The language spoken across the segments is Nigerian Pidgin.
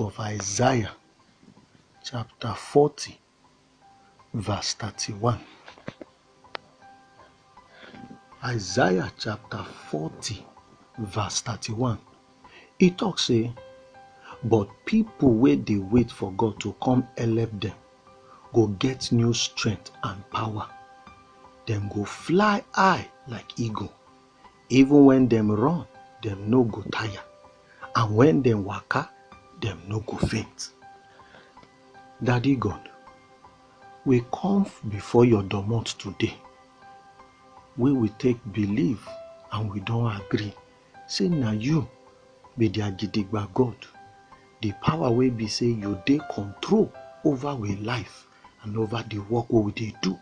of Isaiah chapter 40, verse 31. Isaiah chapter 40, verse 31. It talks say, But people where they wait for God to come help them go get new strength and power. Them go fly high like eagle. Even when dem run, dem no go tire, and when dem waka, dem no go faint. Daddy God, we come before your domot today, wey we take believe and we don agree say na you be their gidigba God, the power wey be say you dey control over we life and over the work wey we dey do.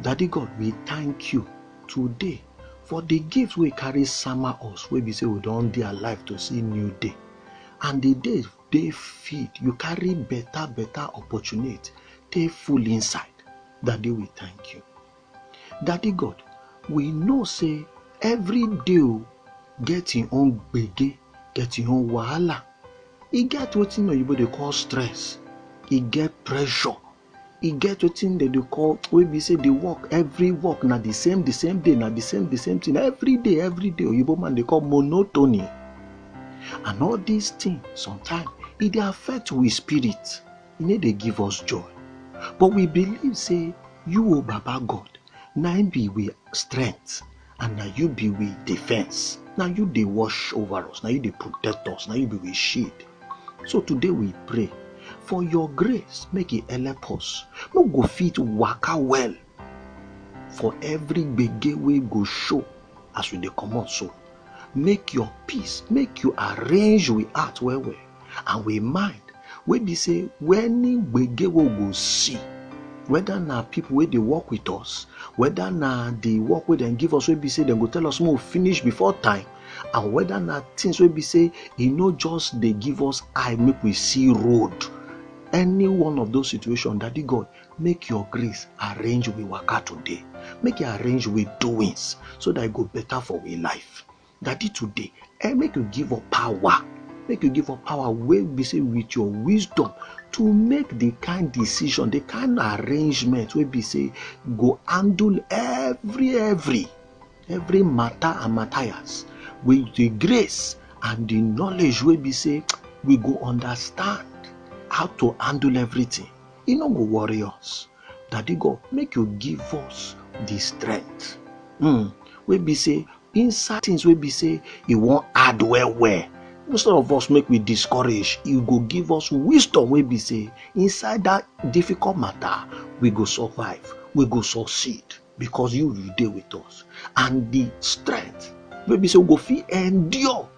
Daddy God, we thank you today for the gift we carry summer us wey be say we don dey alive to see new day and the day dey feed you carry better better opportunity take full inside daddy we thank you daddy god we know say every day o get im own gbege get im own wahala e get wetin oyibo dey call stress e get pressure e get wetin dem dey call wey be say the work every work na the same the same day na the same the same thing every day every day oyibo man dey call monotony and all these things sometimes e dey affect we spirit e no dey give us joy but we believe say you o baba god na im be we strength and na you be we defense na you dey wash over us na you dey protect us na you be we shield so today we pray for your grace make e help us no go fit waka well for every gbege wey go show as we dey comot so make your peace make you arrange we heart well well and we mind wey be say any gbege wey we go see whether na people wey dey work with us whether na the work wey dem give us wey be say dem go tell us make we finish before time and whether na things wey be say e no just dey give us eye make we see road any one of those situations daddy god make your grace arrange we waka today make e arrange we doings so that e go better for we life Daddy today, eh, make you give up power. Make you give up power wey be say with your wisdom to make the kind decision the kind arrangement wey be say go handle every every every matter and matthias with the grace and the knowledge wey be say we go understand how to handle everything e no go worry us daddy god make you give us the strength mm, wey be say inside things wey be say e wan add well well instead of us make we discourage e go give us wisdom wey be say inside that difficult matter we go survive we go succeed because you you dey with us and the strength wey be say we go fit endure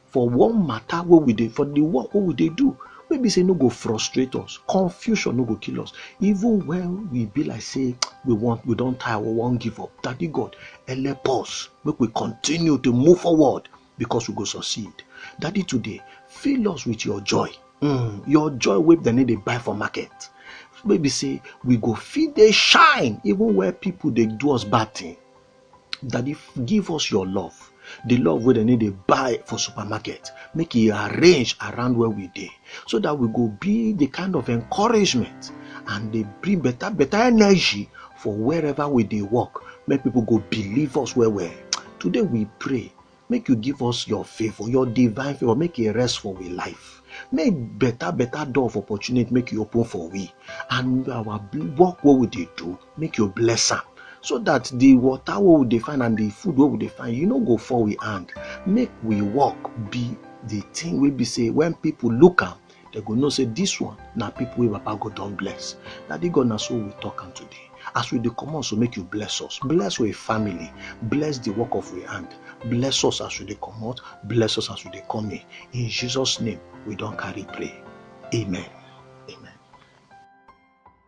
for one matter wey we dey for the work wey we dey do wey be say e no go frustrate us confusion no go kill us even when we be like say we want we don tire we wan give up daddy god help us make we continue to move forward because we go succeed daddy today fill us with your joy mm, your joy wey dem no dey buy for market wey be say we go fit dey shine even where people dey do us bad thing Daddy, give us your love. The love where they need to buy for supermarket. Make it arrange around where we dey. So that we go be the kind of encouragement and they bring better, better energy for wherever we they work. Make people go believe us where we. Today we pray. make you give us your favor your divine favor make e rest for we life make better better door of opportunity make you open for we and our work what we dey do make you bless am so that the water what we dey find and the food what we dey find you no go fall we hand make we work be the thing wey be say when people look am They go know say this one na people wey Papa God don bless. Daddy God, na so we talk am today. As we dey comot, so make you bless us, bless our family, bless the work of our hand, bless us as we dey comot, bless us as we dey come in. In Jesus' name, we don carry pray. Amen.